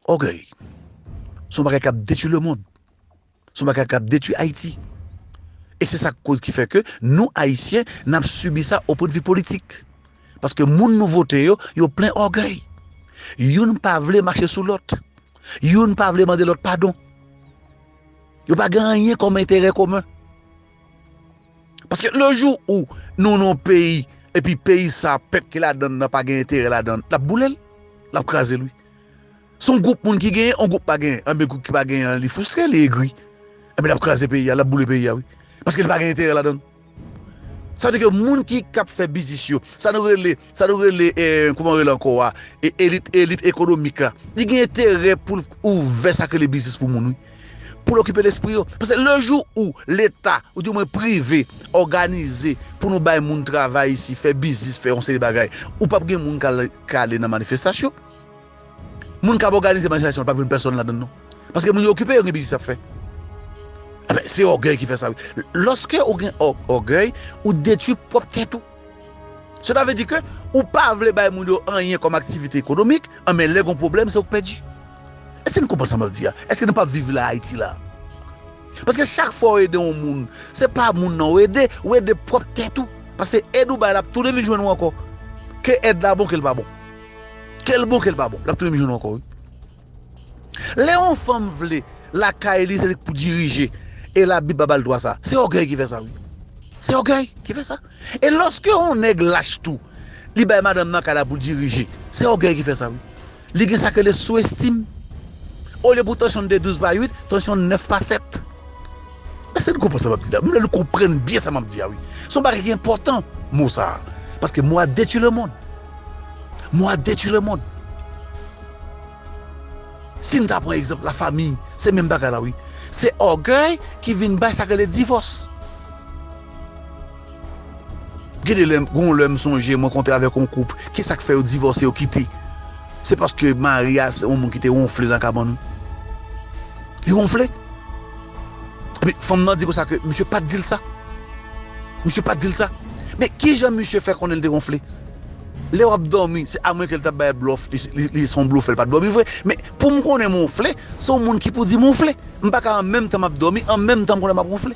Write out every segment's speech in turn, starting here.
Ògèy, se yon bagay k ap detui lemonn, se yon bagay k ap detui Ayiti. E se sa k koz ki fè ke nou Ayisyen n ap sibi sa o pwen de vi politik. Paske moun nou vote yo, yo plen ògèy. Youn pa vle mache sou lòt. Youn pa vle mande lòt padon. Yo pa gen anyen kòm enterè komen. Paske le jou ou nou nan yon peyi, epi peyi sa a pèp ki ladan l lan pa gen enterè ladan l, l ap boule l, l ap kraze l wi. Se yon gwoup moun ki genyen, yon gwoup pa genyen. Anben gwoup ki pa genyen an li fristre, li egri. Anben l ap kraze peyi a, l ap boule peyi a wi. Paske li pa gen enterè ladan l. Sa vle di ke moun ki kap fè biznis yo, sa nou rele, sa nou rele e, kouman yo rele ankò a, e elit, elit ekonomik la, li gen enterè poul ouvè sa ki rele biznis pou moun wi. Poul okipe lespri yo. Paske le jou ou leta, ou di mwen prive, òganize pou nou bay moun travay isi, fè biznis, fè yon seri bagay, ou pap gen moun kal, kale nan manifestasyon. Moun kap òganize manifestasyon pap jwenn pèsòn ladann non. Paske moun yo okipe yo gen biznis yap fè. Ebyen se ògèy ki fè sa wi. Lòske ou gen ògèy ou detwi pwòp tèt ou. Sela vle di ke ou pa vle bay moun yo anyen kòm aktivite ekonomik, anben lè gon pwoblèm se ou k pèdi. Eske nou konprann sa map di a? Eske nou pap viv la Ayiti la? Paske chak fwa ou ede yon moun, se pa moun nan ou ede, ou ede pwòp tèt ou. Paske èd ou bay la ap tounen vin jwenn ou ankò. Ke èd la bon ke l pa bon. Kel bon kel pa bon lap tounen jwenn ankò wi lè yon fanm vle lakay li se li ki pou dirije e la bib pa bal dwa sa se ògèy ki fè sa wi se ògèy ki fè sa e lòske yon nèg lach tou li bay madanm nan kay la pou dirije se ògèy ki fè sa wi li gen sak rele sou estim olye pou tansyon te 12 pa 8 tansyon 9 pa 7. Èske nou konprann sa map di la? M vle nou konprann byen sa map di a wi. Se yon bagay ki enpòtan mo sa a. Paske mo a detwi lemonn. Mo a detwi lemonn. Si n ta pran egzanp lafami, se menm bagay la wi. Se ògèy ki vin bay sa yo rele divòs. Gen de lè, gen yon lè m sonje mwen konte avèk yon koup, ki sa k fè yo divòse, yo kite? Se paske mari a se yon moun ki te wonfle nan kabann. Li wonfle. Epi fanm nan di konsa ke misye pa t di l sa. Misye pa t di l sa. Men ki jan misye fè konnen li te wonfle? Lè w ap dòmi, se amwen ke li t ap bay blòf, li se yon blofè, li pa t dòmi vre. Men pou m konnen m wonfle, se yon moun ki pou di m wonfle. M pa ka an menm tan m ap dòmi, an menm tan m konnen m ap wonfle.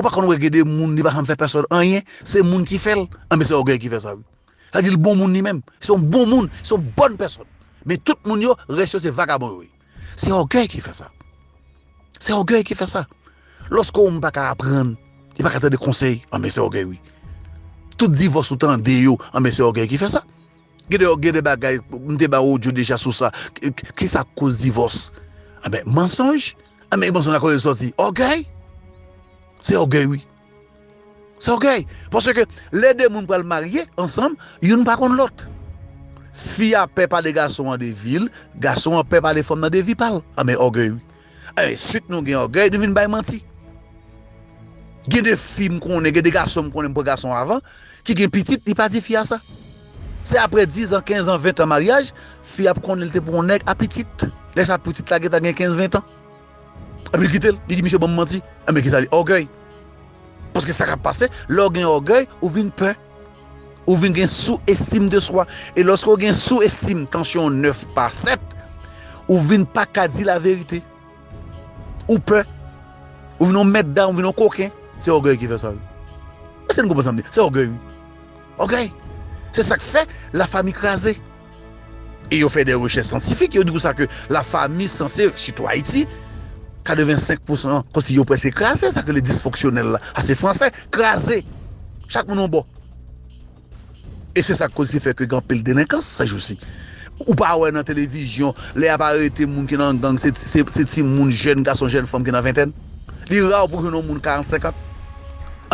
Ou pa konn wè gen de moun li pa janm fè pèsòn anyen, se moun ki fè l, anben se ògèy ki fè sa wi. Sa vle di l bon moun li menm, se yon bon moun, se yon bòn pèsòn. Men tout moun yo, rès yo se vagabon yo ye. Se ògèy ki fè sa. Se ògèy ki fè sa. Lòske yon moun pa ka aprann, li pa ka tande konsèy, anben se ògèy wi. Tout divòs ou tande yo, anben se ògèy ki fè sa. Gen de gen de bagay, m te ba w odyo deja sou sa, ki sa k koz divòs? Anben mansonj. Anben ki pòsyon lakolè sòti? Ògèy? Se ògèy wi. Se ògèy. Paske lè de moun pral marye ansanm, youn pa konn lòt. Fi a pè pale gason an de vi l, gason an pè pale fanm nan de vi pa l. Anben ògèy wi. Anben suit nou gen ògèy, nou vin bay manti. Gen de fi m konnen, gen de gason m konnen m pran gason avan, ki gen pitit li pa di fi a sa se aprè 10 ans 15 ans 20 ans maryaj fi a ap konnen li te pou yon nèg a pitit lè sa pitit la gentan gen 15 20 ans epi li kitel li di misye banm manti enben kisa li ògèy paske sa kap pase lè ou gen ògèy ou vin pè ou vin gen sou estim de swa e lòske ou gen sou estim tansyon 9 pa 7 ou vin paka di laverite. Ou pè. Ou vin yon mèt dam, ou vin yon koken. Se ògèy ki fè sa wi. Èske nou konprann sa m di a? Se ògèy wi. Ògèy! Se sa k fè lafami kraze. E yo fè de rechèch syantifik, yo di konsa ke lafami sanse, sitou Ayiti, 85 pousan, kòmsi yo prèske kraze, sa yo rele disfonksyonèl la. A se fransè, kraze. Chak moun yon bò. E se sak koz ki fè ke gen anpil delenkans se jou si. Ou pa wè nan televizyon lè yap arete moun ki nan gang se ti moun jèn gason jèn fanm ki nan ventèn. Li rare pou jwenn yon moun 40 50.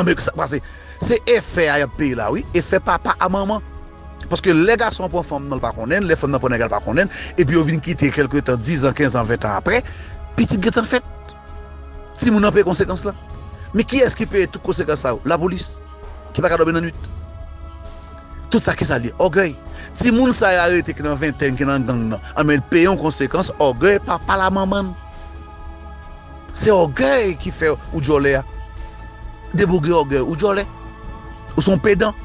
Anben ki sak pase? Se efè a yap peye la wi, efè papa a manman. Paske lè gason an pran fanm nan li pa konnen, lè fanm nan pran nèg la li pa konnen, epi yo vin kite kelke tan 10 an 15 an 20 an aprè, pitit gentan fèt. Timoun nan peye konsekans la. Men kiyès ki peye tout konsekans sa yo? Lapolis ki pa ka dòmi nan nwit. Tout sa ki sa l ye? Ògèy. Timoun sa yo arete ki nan ventèn, ki nan gang nan, anben l peye yon konsekans ògèy papa l a manman l. Se ògèy ki fè ou djòlè a. Debogey ògèy ou djòlè. Ou se yon pedan.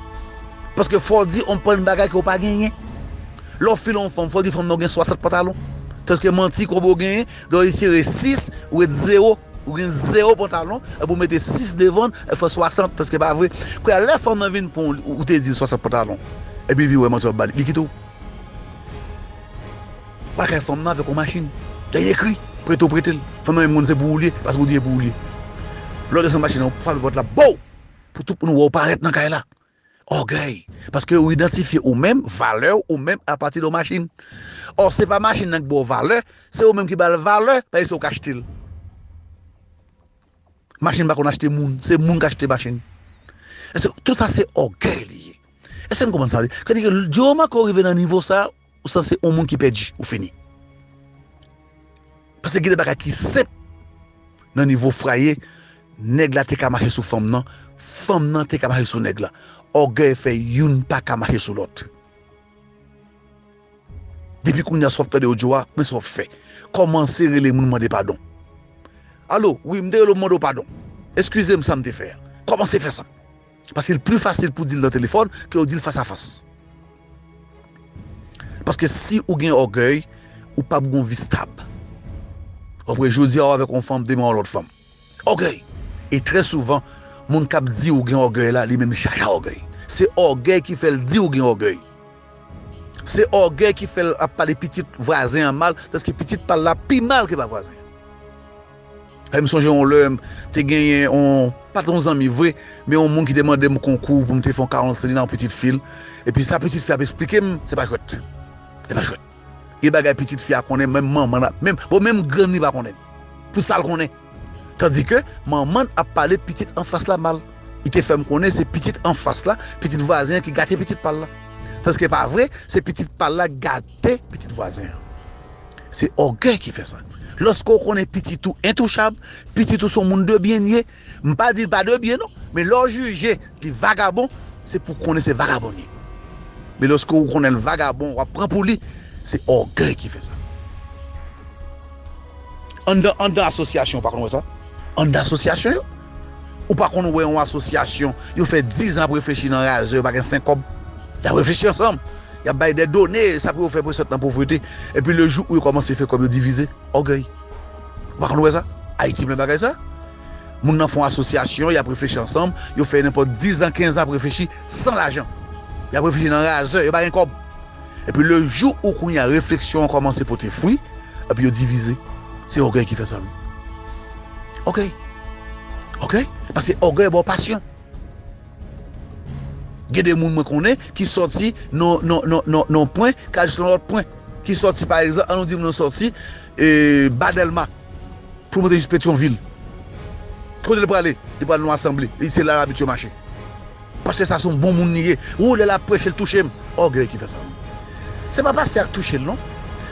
Paske fò w di anpil bagay ke w pa genyen. Lè w file yon fanm, fò w di fanm nan ou gen 60 pantalon. Tandiske manti konbe w genyen, Lè w retire 6, ou ret 0, ou gen 0 pantalon, epi ou mete 6 devan l, ou fè 60, èske pa vre? Kounye a, lè fanm nan vin pran w, ou te di l 60 pantalon, epi li vin wè manti w ap ba li, li kite w? Ou pa kay fanm nan avèk yon machin, gen yon ekri, prete ou prete l, fanm nan menm konn se pou ou li ye, paske ou di se pou ou li ye. Lè w desann machin nan, ou frape pòt la, bow! Pou tout moun wè ou parèt nan kay la. Ògèy, paske ou idantifye ou menm, valè ou menm apati de yon machin. Ò, se pa machin nan ki ba w valè, se ou menm ki ba l valè, paske se ou ki achte l. Machin pa konn achte moun, se moun ki achte machin. Èske tout sa se ògèy li ye? Èske nou konprann sa? Sa vle di ke di yo remak ke w rive nan nivo sa a, Ou san se on moun ki pèdi ou fini. Pase gen de bagay ki senp nan nivo fraye nèg la te ka mache sou fanm nan, fanm nan te ka mache sou nèg la. Ògèy fè youn pa ka mache sou lòt. Depi kounya si w ap tande odyo a, men sa w ap fè. Kòmanse rele moun mande padon. Alo, wi m te rele w mande w padon. Eskize m sa m te fè a. Kòmanse fè sa. Paske l pli fasil pou di l nan telefòn ke ou di l fas a fas. Paske si ou gen ògèy, ou pap gen yon vi stab. Ou konpran? Jodi a ou avèk yon fanm, demen ou lòt fanm. Ògèy! E trè souvan, moun k ap di ou gen ògèy la, li menm li chaje a ògèy. Se ògèy ki fè l di ou gen ògèy. Se ògèy ki fè l ap pale pitit vwazen an mal, tandis ke pitit pa l la pi mal ke pa vwazen an. E m sonje yon lè, m te genyen yon, pa t yon zanmi vre, men yon moun ki te mande m konkou pou m te fè yon karans li nan pitit fi l. Epi sa pitit fi a ap esplike m, se pa jwèt. Se pa jwèt. Gen bagay pitit fi a konnen menm manman l, menm, bon menm grann li pa konnen. Pou sa l konnen. Tandike, manman l ap pale pitit anfas la mal. Li te fè m konnen se pitit anfas la, pitit vwazen an ki gate pitit pa l la. Tandiske pa vre, se pitit pa l la ki gate. Te pitit vwazen an. Se ògèy ki fè sa. Lòske w konnen pitit ou entouchab, pitit ou se yon moun de byen li ye, m pa di li pa de byen non, men lè w jije li vagabon, se pou w konnen se vagabon li ye. Men lòske w konnen l vagabon, w ap pran pou li, se ògèy ki fè sa. Anndan anndan asosyasyon ou pa konn wè sa? Anndan asosyasyon yo? Ou pa konn wè yon asosyasyon yo fè 10 an ap reflechi nan razè yo pa gen 5 kòb? Y ap reflechi ansanm, y ap bay de done, sa pou yo fè pou yo sot nan povrete. Epi le jou ou yo kòmanse fè kòb yo divize. Ògèy. Ou pa konn wè sa? Ayiti plen bagay sa. Moun nan fè yon asosyasyon, y ap reflechi ansanm, yo fè nenpòt 10 an, 15 an ap reflechi san lajan. Y ap reflechi nan razè, yo pa gen kòb. Epi le jou ou kounye a refleksyon an kòmanse pote fwi, epi yo divize. Se ògèy ki fè sa wi. Ògèy. Ògèy. Pase ògèy ba w pasyon. Gen de moun mwen konnen ki sòti nan yon pwen kal jis nan lòt pwen. Ki sòti pa egzanp, an nou di moun nan sòti E ba delma poul monte jis petyon vil kote li prale li pral nou asanble e se la l abitye mache pastè sa son bon moun li ye wou lè lap preche l touche m ògèy ki fè sa wi se pa pastè a k touche l non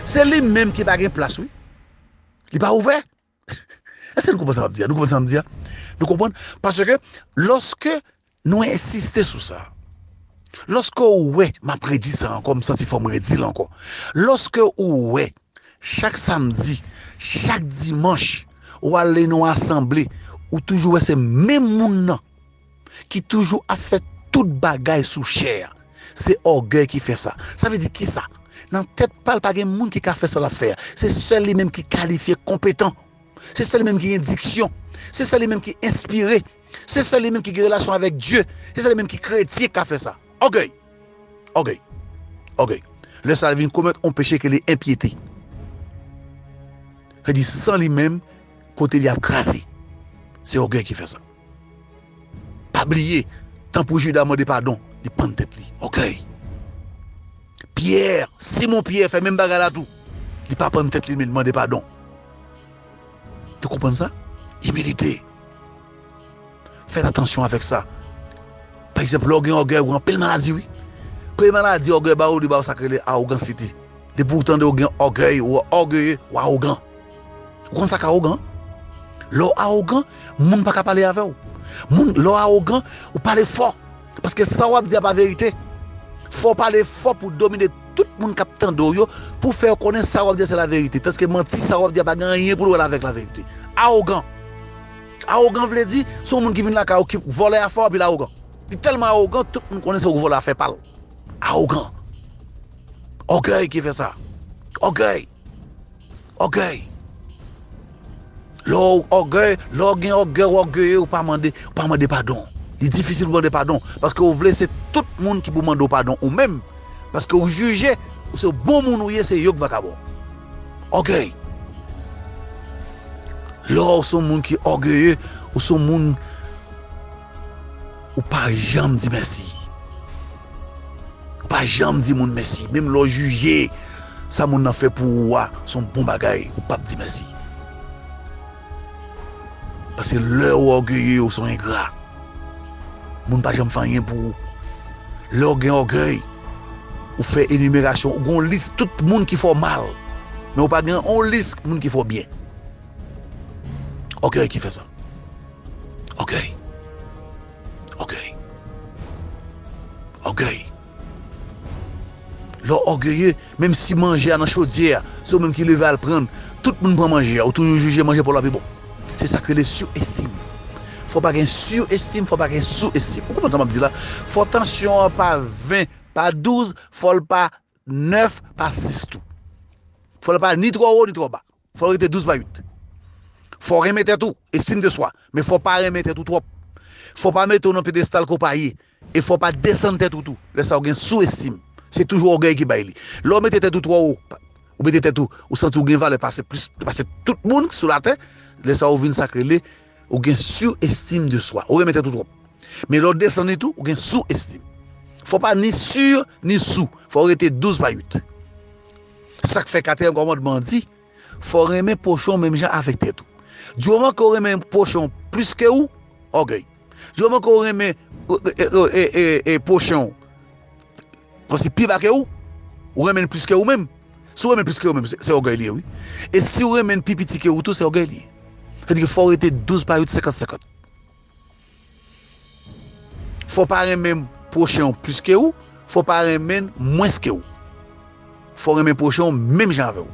se li menm ki pa gen plas wi li pa ouvè èske nou konprann sa map di a nou konprann sa map di a nou konprann paske loske Nou ensiste sou sa. Lòske ou wè, m ap redi sa ankò, m santi fò m redi l ankò, lòske ou wè chak samdi, chak dimanch ou ale nan yon asanble, ou toujou wè se menm moun nan ki toujou ap fè tout bagay sou chè a, se ògèy ki fè sa. Sa vle di ki sa? Nan tèt pa l, pa gen moun ki ka fè sa l ap fè a. Se sèl li menm ki kalifye, konpetan. Se sèl li menm ki gen diksyon. Se sèl li menm ki enspire. Se sèl li menm ki gen relasyon avèk Dye, se sèl li menm ki kretyen ki ka fè sa. Ògèy! Ògèy! Ògèy! Lè sa a, l vin komèt yon peche ki rele enpyete. Sa vle di, san li menm, kote li ap kraze. Se ògèy ki fè sa. Pa bliye, tan pou Jida mande padon, li pann tèt li. Ògèy! Pyè, Simon Pyè fè menm bagay la tou. Li pa pann tèt li, men li mande padon. Yo konprann sa? Imilite. Fèt atansyon avèk sa. Pa egzanp, lè w gen ògèy ou gen anpil maladi wi. Premye maladi ògèy ba ou li ba ou sa ki rele awogansite. Depi ou tande ou gen ògèy, ou ògeye, ou awogan. Ou konn sa k awogan? Lè w awogan, moun pa ka pale avè w. Moun, lè w awogan, ou pale fò. Paske sa wap di a pa verite. Fò w pale fò pou domine tout moun kap tande w yo pou w fè yo konnen sa wap di a se laverite. Tanske manti sa wap di a pa gen anyen pou l wè avèk laverite. Awogan. Awogan vle di se yon moun ki vin lakay ou ki vòlè afè w epi l awogan. Li tèlman awogan tout moun konnen se ou ki vòlè afè pa l. Awogan. Ògèy ki fè sa. Ògèy. Ògèy! Lè w ògèy, lè w gen ògèy, w ògeye, w pa mande, w pa mande padon. Li difisil pou w mande padon, paske w vle se tout moun ki pou mande w padon ou menm, paske w jije ou se bon moun ou ye, se yo k vakabon. Ògèy! Lè w son moun ki ògeye, ou son moun ou pa janm di mèsi. Ou pa janm di moun mèsi. Menm lè w jije sa moun nan fè pou ou a se yon bon bagay, ou pap di mèsi. Paske lè ou ògeye ou se yon engra. Moun pa janm fè anyen pou ou. Lè ou gen ògèy, ou fè enimerasyon, ou gen yon lis tout moun ki fè w mal. Men ou pa gen yon lis moun ki fè w byen. Ògèy ki fè sa. Ògèy. Ògèy. Ògèy. Lè w ògeye, menm si manje a nan chodyè a, se ou menm ki leve al pran l, tout moun pran manje a, ou toujou jije manje pa w la pi bon. Se sa k rele surestime. Fò pa gen surestime, fò pa gen sous-estime. Ou konprann sa m ap di la? Fò tansyon an pa 20, pa 12, fò l pa 9, pa 6 tou. Fò l pa ni twò wo, ni twò ba. Fò w rete douz pa uit. Fò w renmen tèt ou, estime de soi, men fò w pa renmen tèt ou twòp. Fò w pa mete w nan pyedestal ke w pa ye, e fò w pa desann tèt ou tou. Lè sa ou gen sou estime. Se toujou ògèy ki bay li. Lè ou mete tèt ou twò wo, ou mete tèt ou, ou santi ou gen valè pase plis, pase tout moun sou latè, lè sa ou vin sa k rele. Ou gen sur estime de soi. Ou renmen tèt ou twòp. Men lè w desann li tou, ou gen sou estime. Fò w pa ni sur, ni sou. Fò w rete 12 pa 8. Se sa k fè katriyèm kòmandman an di, fò w renmen pwochen w menm jan avèk tèt ou. Di moman ke w renmen pwochen w plis ke ou, ògèy. Di moman ke w renmen pwochen w. Kòmsi pi ba ke ou, ou renmen l plis ke ou menm. Si w renmen l plis ke ou menm, se ògèy li ye wi. E si w renmen l pi piti ke ou tou, se ògèy li ye. Sa di ke fò w rete 12 pa 8, 50, 50. Fò w pa renmen pwochen w plis ke ou, fò w pa renmen l mwens ke ou. Fò w renmen pwochen w menm jan avè w.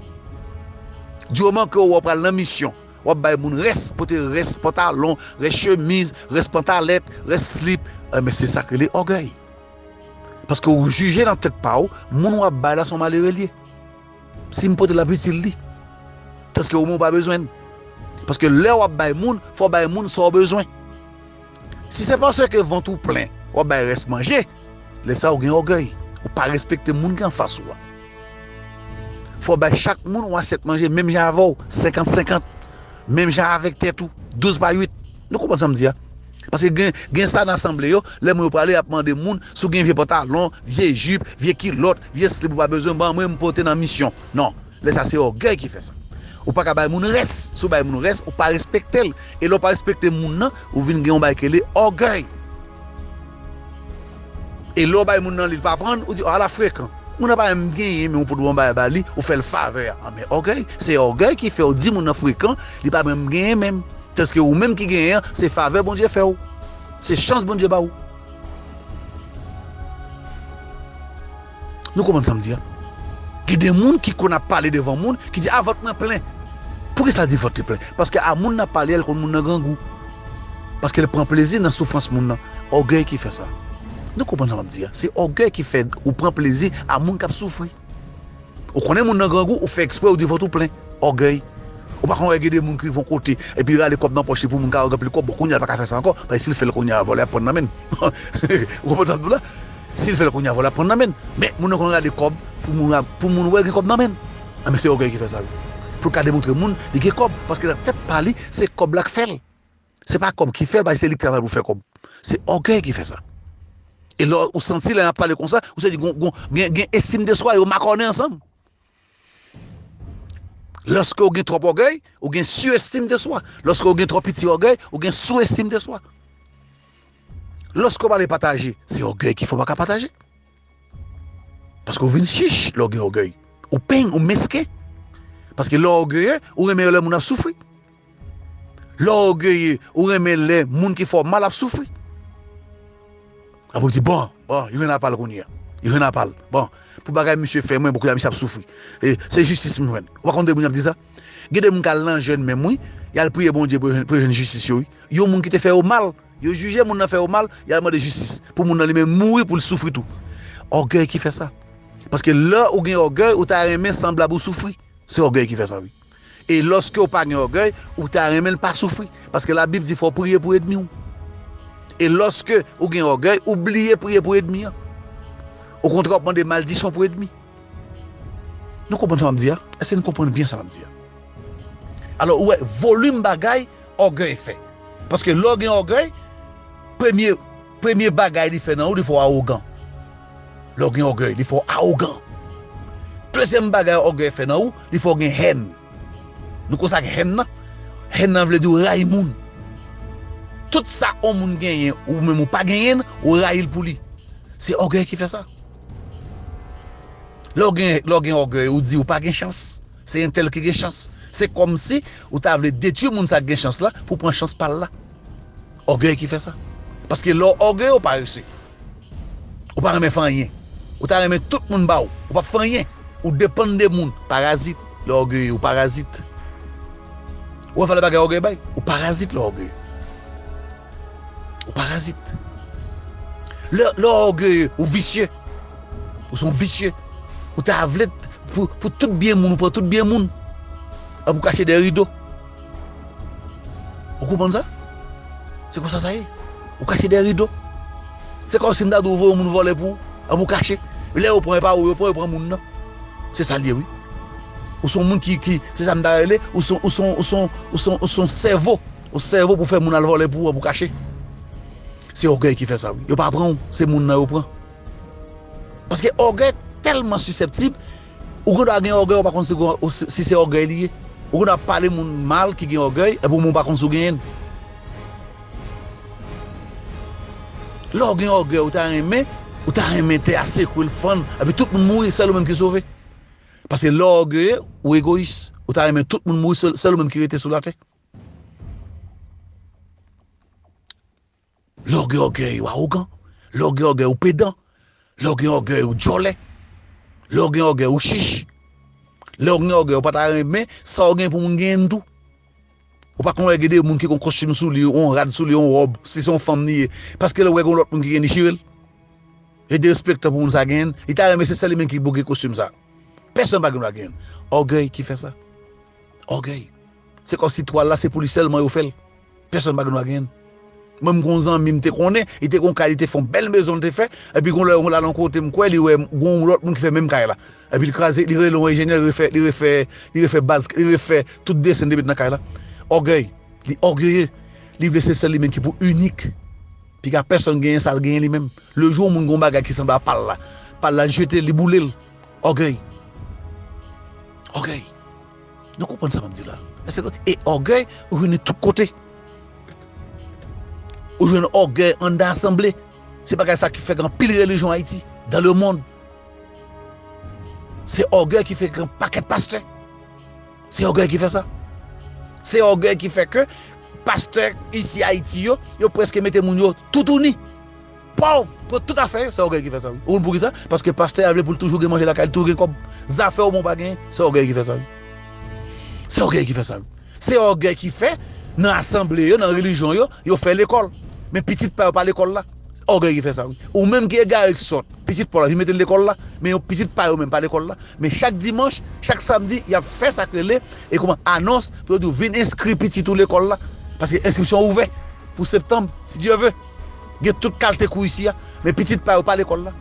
Du moman ke ou wè w pral nan misyon, w ap bay moun rès, pote rès pantalon, rès chemiz, rès pantalèt, rès slip, enben se sa ki rele ògèy. Paske ou jije nan tèt pa ou, moun ou ap bay la se yon malere li ye. Si m pote l ap itil li. Tanske ou menm ou pa bezwen l. Paske lè ou ap bay moun, fò w bay moun sa ou bezwen. Si se paske vant ou plen, ou ap bay rès manje, lè sa ou gen ògèy. Ou pa respekte moun ki anfas ou a. Fò w bay chak moun yon asyèt manje menm jan avè w, senkant senkant. Menm jan avèk tèt ou, douz pa uit. Nou konprann sa m di a? Paske gen gen sa nan asanble yo, lè moun yo prale yap mande moun si w gen vye pantalon, vye jip, vye kilòt, vye slip ou pa bezwen ban mwen m pote nan misyon. Non, lè sa se ògèy ki fè sa. Ou paka bay moun rès, si w bay moun rès ou pa respekte l, e lè w pa respekte moun nan ou vin gen yon bagay ki rele ògèy. E lè w bay moun nan li l pa pran, ou di a la frekan, moun nan pa menm genyen men ou pot bon bagay ba li, ou fè l favè a, anben ògèy, se ògèy ki fè w di moun nan frekan, li pa menm genyen menm. Eske ou menm ki genyen an se favè Bondye fè ou? Se chans Bondye ba ou? Nou konprann sa m di a? Gen de moun ki konn ap pale devan moun ki di a vant mwen plen. Poukisa l di vant li plen? Paske a moun nan pale a l konn moun nan grangou. Paske l pran plezi nan soufrans moun nan. Ògèy ki fè sa. Nou konprann sa m ap di a? Se ògèy ki fè ou pran plezi a moun k ap soufri. Ou konnen moun nan grangou, ou fè ekspre ou di vant ou plen. Ògèy. Ou pa konn wè gen de moun ki rive yon kote, epi rale kòb nan pòch li pou moun ka wè l gen anpil kòb. Bon, kounye a l pa ka fè sa ankò, paske si l fè l kounye a, vòlè ap pran nan men l. Ou konprann sa m di w la? Si l fè l kounye a, vòlè ap pran nan men l. Men, moun nan konn rale kòb pou moun a, pou moun wè gen kòb nan men l. Anben, se ògèy ki fè sa wi. Pou l ka demontre moun li gen kòb, paske nan tèt pa li, se kòb la k fè l. Se pa kòb ki fèl paske se li ki travay pou fè kòb. Se ògèy ki fè sa. E lè ou santi lè yap pale konsa, ou se di gon gen estim de swa yo makònen ansanm. Lòske ou gen twòp ògèy, ou gen su estim de swa. Lòske ou gen twòp piti ògèy, ou gen sou estim de swa. Lòske ou pale pataje, se ògèy ki fè ou pa ka pataje. Paske ou vin chich lè w gen ògèy. Ou peng, ou mesken. Paske lè w ògeye, ou renmen lè moun ap soufri. Lè w ògeye, ou renmen lè moun ki fè w mal ap soufri. Apre ou di, bon, bon, yo gen dwa pa l kounye a. Yo gen dwa pa l. Bon, pou bagay misye fè mwen, bon, kounye a misye ap soufri. E, se jistis m jwenn. Ou pa konn de moun y ap di sa? Gen de moun k al nan jèn menm wi, y al priye Bondye pou yo jwenn jistis yo wi. Yon moun ki te fè yo mal. Yo jije moun nan fè yo mal, yal mande jistis pou moun nan li menm mouri pou l soufri tou. Ògèy ki fè sa. Paske lè ou gen ògèy ou ta renmen sanblab ou soufri. Se ògèy ki fè sa wi. E lòske ou pa gen ògèy, ou ta renmen l pa soufri. Paske labib di fò w priye pou edmi w. E lòske ou gen ògèy, ou bliye priye pou edmi an. Okontrè w ap mande maldisyon pou edmi. Nou konprann sa m ap di a? Èske nou konprann byen sa m ap di a? Alò ou wè volim bagay. ògèy fè. Paske lè w gen ògèy, premye, premye bagay li fè nan ou, li fè w awogan. Lè w gen ògèy, li fè w awogan. Dezyèm bagay ògèy fè nan ou, li fè w gen hèn. Nou konn sa k hèn nan? Hèn nan vle di w rayi moun. Tout sa yon moun genyen, ou menm ou pa genyen, ou rayi l pou li. Se ògèy ki fè sa. Lè w gen, lè w gen ògèy, ou di ou pa gen chans. Se entèl ki gen chans. Se kòmsi ou ta vle detwi moun sa k gen chans la pou w pran chans pa l la. Ògèy ki fè sa. Paske lè w ògeye ou parese. Ou pa renmen fè anyen. Ou ta renmen tout moun ba w. Ou pa p fè anyen. Ou depann de moun. Parazit lè w ògeye ou parazit. Ou wè valè bagay ògèy bay? Ou parazit lè w ògeye. Ou parazit. Lè w ògeye, ou visye. Ou son visye. Ou ta vle pou tout byen moun, ou pran tout byen moun. Epi ou kache dèyè rido. Ou konprann sa? Se konsa sa ye. Ou kache dèyè rido. Se kòm si m ta di w vòlè yon moun vòlè pou ou. Epi ou kache. Lè yo pran, e pa ou yo pran, yo pran moun nan. Se sa l ye wi. Ou son moun ki, se sa m ta rele, ou son, ou son, ou son, ou son, ou son sèvo. Ou sèvo pou fè moun al vòlè pou ou pou kache. Se ògèy ki fè sa wi. Yo pa pran ou, se moun nan yo pran. Paske ògèy tèlman sisèptib, ou gen dwa gen ògèy ou pa konn si se ògèy li ye. Ou gen dwa ap pale moun mal ki gen ògèy epi ou menm ou pa konn si ou genyen l. Lè ou gen ògèy ou ta renmen, ou ta renmen tè a sekwe l fann epi tout moun mouri sèl ou menm ki sove. Paske lè ou ògeye, ou egoyis. Ou ta renmen tout moun mouri sèl ou menm ki rete sou latè. Lè w gen ògèy, ou awogan. Lè w gen ògèy, ou pedan. Lè w gen ògèy, ou djòlè. Lè w gen ògèy, ou chich. Lè w gen ògèy, ou pa ta renmen sa w gen pou moun genyen tou. Ou pa konn wè gen de moun ki gen yon kostim sou li, yon rad sou li, yon wòb, si se yon fanm li ye, paske lè l wè gen yon lòt moun ki genyen li chire l? Li derespektan pou moun sa genyen l, li ta renmen se sèl li menm ki pou gen kostim sa. Pèsonn pa gen dwa genyen l. Ògèy ki fè sa. Ògèy. Se kòmsi twal la se pou li sèlman yo fèl. Pèsòn pa gen dwa genyenn. Mwen m gen yon zanmi m te konnen, li te gen yon kay li te fè yon bèl mezon li te fè, epi gen yon lè yo lal yon kote m kwè li wè gen yon lòt moun ki fè menm kay la. Epi li kraze, li rele yon enjenyè li refè, li refè, li refè baz, li refè tout desen li te met nan kay la. Ògèy, li ògeye, li vle se sèl li menm ki pou inik. Piga pèsòn genyen sa l genyen li menm. Le jou yon moun gen yon bagay ki sanble a pa l la, pa l la li jete l, li boule l. Ògèy. Ògèy. Nou konprann sa map di la? E ògèy ou jwenn li tout kote. Ou jwenn ògèy anndan asanble. Se bagay sa ki fè gen anpil relijyon Ayiti, dan le mond. Se ògèy ki fè gen pakèt pastè. Se ògèy ki fè sa. Se ògèy ki fè ke pastè isi Ayiti yo, yo preske mete moun yo toutouni. Pòv! Pran tout afè yo, se ògèy ki fè sa wi. Ou konn poukisa? Paske pastè a vle pou l toujou gen manje lakay li, toujou gen kòb. Zafè w menw pa genyen, se ògèy ki fè sa wi. Se ògèy ki fè sa wi. Se ògèy ki fè nan asanble yo, nan relijyon yo, yo fè lekòl. Men pitit pa yo pa lekòl la. Se ògèy ki fè sa wi. Ou menm ki egare, ki sòt, pitit paw la vin mete l lekòl la, men yo pitit pa yo menm pa lekòl la. Men chak dimanch, chak samdi yap fè sak rele e kouman anons pou yo di w vin enskri pitit ou lekòl la. Paske enskripsyon ouvè pou septanb, si Dye ve. Gen tout kalte kou isi a, men pitit pa yo pa lekòl la.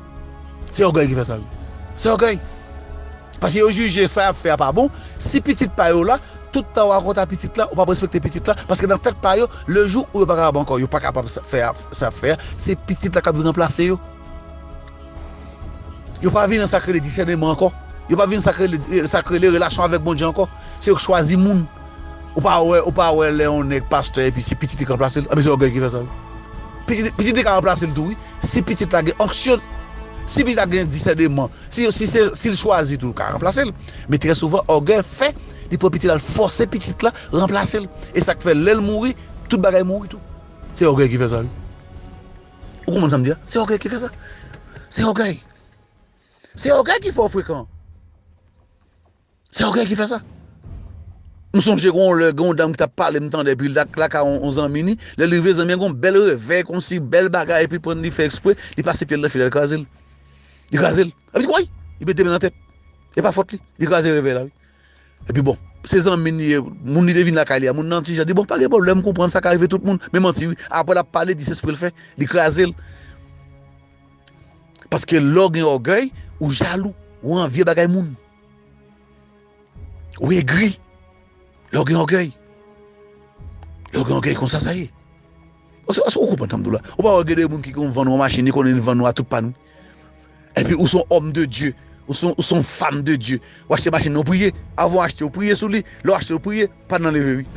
Se ògèy ki fè sa wi. Se ògèy. Paske yo jije sa y ap fè a pa bon, si pitit pa yo la, tout tan w a konta pitit la, ou p ap respekte pitit la, paske nan tèt pa yo, le jou ou yo pa kapab ankò, yo pa kapab fè sa y ap fè a, se pitit la k ap vin ranplase yo. Yo pa vin nan sa k rele disèneman ankò. Yo pa vin nan sa k rele relasyon avèk Bondye ankò. Se yo k chwazi moun. Ou pa wè ou pa wè lè yon nèg pastè epi se pitit li k ranplase l anben se ògèy ki fè sa wi pitit pitit li ka ranplase l tou wi si pitit la gen onksyon si pitit la gen disèneman si yo si se si l chwazi tou l ka ranplase l men trè souvan ògèy fè li pran pitit la l fòse pitit la ranplase l e sa k fè lè l mouri tout bagay mouri tou se ògèy ki fè sa wi ou konprann sa m di a se ògèy ki fè sa se ògèy se ògèy ki fè w frekan. Se ògèy ki fè sa. M sonje gen yon lè, gen yon dam ki t ap pale m tande epi l t lakay yon zanmi ni, lè l rive zanmi an gen yon bèl revèy konsi, bèl bagay epi pran li fè ekspre, li pase pye l nan fil la, li kraze l. Li kraze l. Epi l di woy! Li mete men nan tèt. E pa fòt li. Li kraze revèy la wi. Epi bon, se zanmi l li ye, moun li te vin lakay li a, moun nan ti jan di bon pa gen pwoblèm, m konprann sa ka rive tout moun. Men manti wi. Aprè l ap pale, di se espre l fè. Li kraze l. Paske lè w gen ògèy, ou jalou, ou anvye bagay moun. Ou egri lè w gen ògèy. Lè w gen ògèy konsa sa ye. Èske ou konprann sa m di w la? Ou pa wè gen de moun ki konn vann yon machin, li konnen li vann ou a tout pàn wi. Epi ou se yon òm de Dye, ou se yon fanm de Dye, ou achte machin nan ou priye, avan w achte ou priye sou li, lè w achte ou priye, pàn nan leve wi.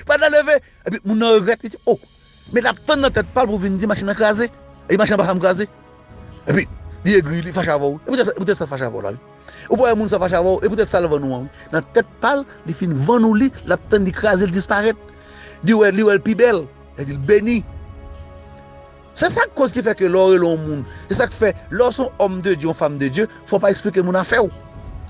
Pàn nan leve! Epi moun nan regrèt li di oh men lap tann nan tèt pal pou vin di machin nan kraze epi machin nan pa janm kraze epi li egri li fache avèw wi se poutèt sa fache avèw la wi ou pa wè moun sa fache avèw e poutèt sal vann ou an wi nan tèt pal li fin vann ou li lap tann li kraze li disparèt li wèl li wèl pi bèl li beni. Se sak koz ki fè ke lè w rele yon moun, se sak fè lè w se yon homme de Dieu, yon femme de Dieu, fò w pa eksplike moun afè w.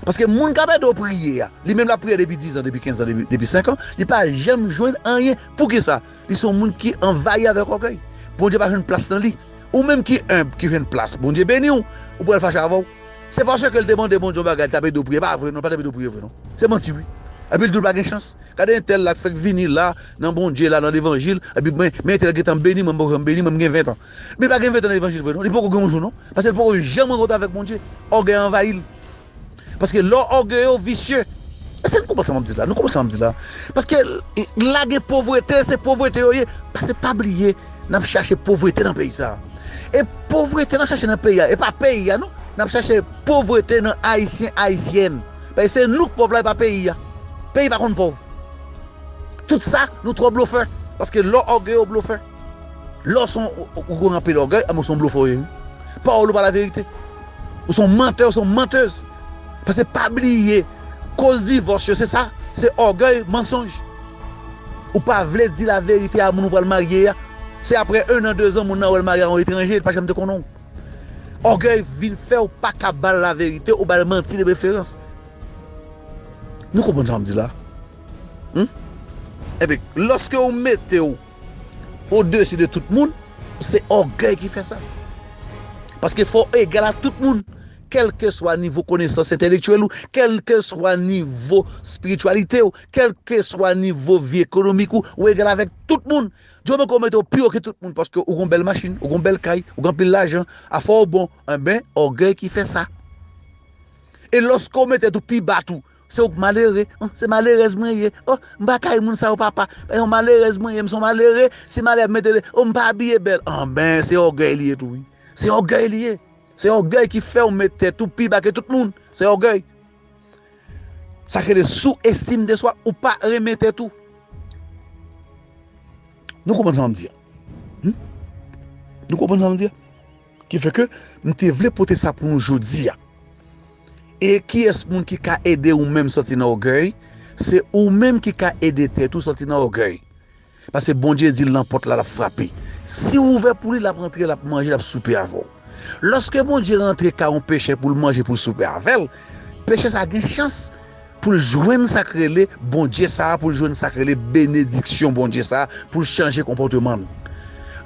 Paske moun kap ede w priye a, li menm lap priye depi 10 ans, depi 15 ans, depi 5 ans, li pa janm jwenn anyen. Poukisa? Li se yon moun ki anvayi avèk ògèy. Bondye pa jwenn plas nan li. Ou menm ki humble, ki jwenn plas, Bondye beni w, ou kwè l fache avè w? Se paske l te mande Bondye yon bagay li tap ede w priye, e pa vre non, li pa tap ede w priye vre non. Se manti wi. Epi l di w pa gen chans. Gade entèl la k fèk vini la nan Bondye la nan levanjil epi mwen men entèl gentan beni mwen m poko janm beni mwen m gen 20 ans men li pa gen 20 ans nan levanjil vre non li poko gen yon jou non paske li poko janm rankontre avèk Bondye ògèy anvayi l paske lè w ògeye w visye èske n konprann sa m ap di la nou konprann sa m ap di la paske la gen povrete se povrete yo ye paske pa bliye n ap chache povrete nan peyi sa e povrete n ap chache nan peyi a e pa peyi a non n ap chache povrete nan ayisyen ayisyèn. Paske se nou k pòv la e pa peyi a. Peyi pa konn pòv. Tout sa nou twò blofè. Paske lè w ògeye w blofè. Lè w son ou gen anpil ògèy anben w son blofè w ye wi. Pawòl ou pa laverite. Ou son mantè ou son mantez. Paske pa bliye koz divòs yo se sa se ògèy mansonj. Ou pa vle di laverite a moun ou pral marye a. Se aprè 1 an 2 zan moun nan wè l marye a yon etranje li pa janm te konnen w. Ògèy vin fèw paka bal la verite ou bal manti de preferans Nou konprann sa m di la Humm Ebyen loske ou metew o desi de tout moun se ògèy ki fè sa Paske fòw egal a tout moun kelkeswa nivo konesans entelektyèl ou kelkeswa nivo spirityalitew kelkeswa nivo vi ekonomik ou ou egal avèk tout moun Djo mwen konnen ou pi wo ke tout moun paske ou gon bèl machin, ou gon bèl kay, ou gen anpil lajan, afè w bon, enben ògèy ki fè sa. E lòske w met tèt ou pi ba tou, se ou k malere, an se malerèz mwen ye, o m pa kay moun sa yo papa, se yon malerèz mwen ye, m se yon malere, si malè mete de, o m pa abiye bèl, anben se ògèy li ye tou wi, se ògèy li ye, se ògèy ki fè w met tèt ou pi ba ke tout moun, se ògèy. Sa ki rele sou estime de swa ou pa renmen tèt ou. Nou konprann sa map di a? Humm nou konprann sa map di a? Ki fè ke m te vle pote sa pou nou jodi a. E kiyès moun ki ka ede ou menm sòti nan ògèy? Se ou menm ki ka ede tèt ou sòti nan ògèy. Paske Bondye di l nan pòt la, l ap frape. Si w ouvè pou li, l ap antre, l ap manje, l ap soupe avè w. Lòske Bondye rantre kay yon pechè pou l manje, pou l soupe avè l, pechè sa a gen chans pou l jwenn sa k rele Bondye sa a, pou l jwenn sa k rele benediksyon Bondye sa a, pou l chanje konpòteman l.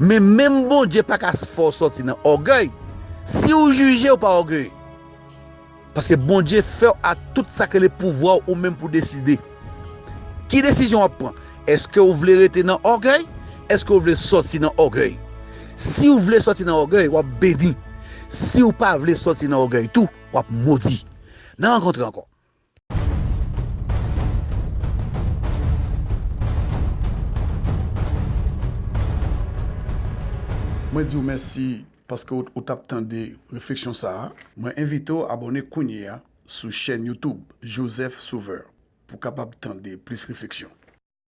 Men, menm Bondye pa ka fè w sòti nan ògèy. Si w jije, w pa ògeye. Paske Bondye fèw a tout sak rele pouvwaw ou menm pou deside. Ki desizyon wap pran? Eske ou vle rete nan ògèy? Eske ou vle sòti nan ògèy? Siw vle sòti nan ògèy wap beni, siw pa vle sòti nan ògèy tou wap modi. Nan rankontre ankò. Mwen diw mèsi Paske ou tap tande refleksyon sa a, mwen envite w abòne kounye a sou chèn YouTube Joseph Sauveur pou w kapab tande plis refleksyon.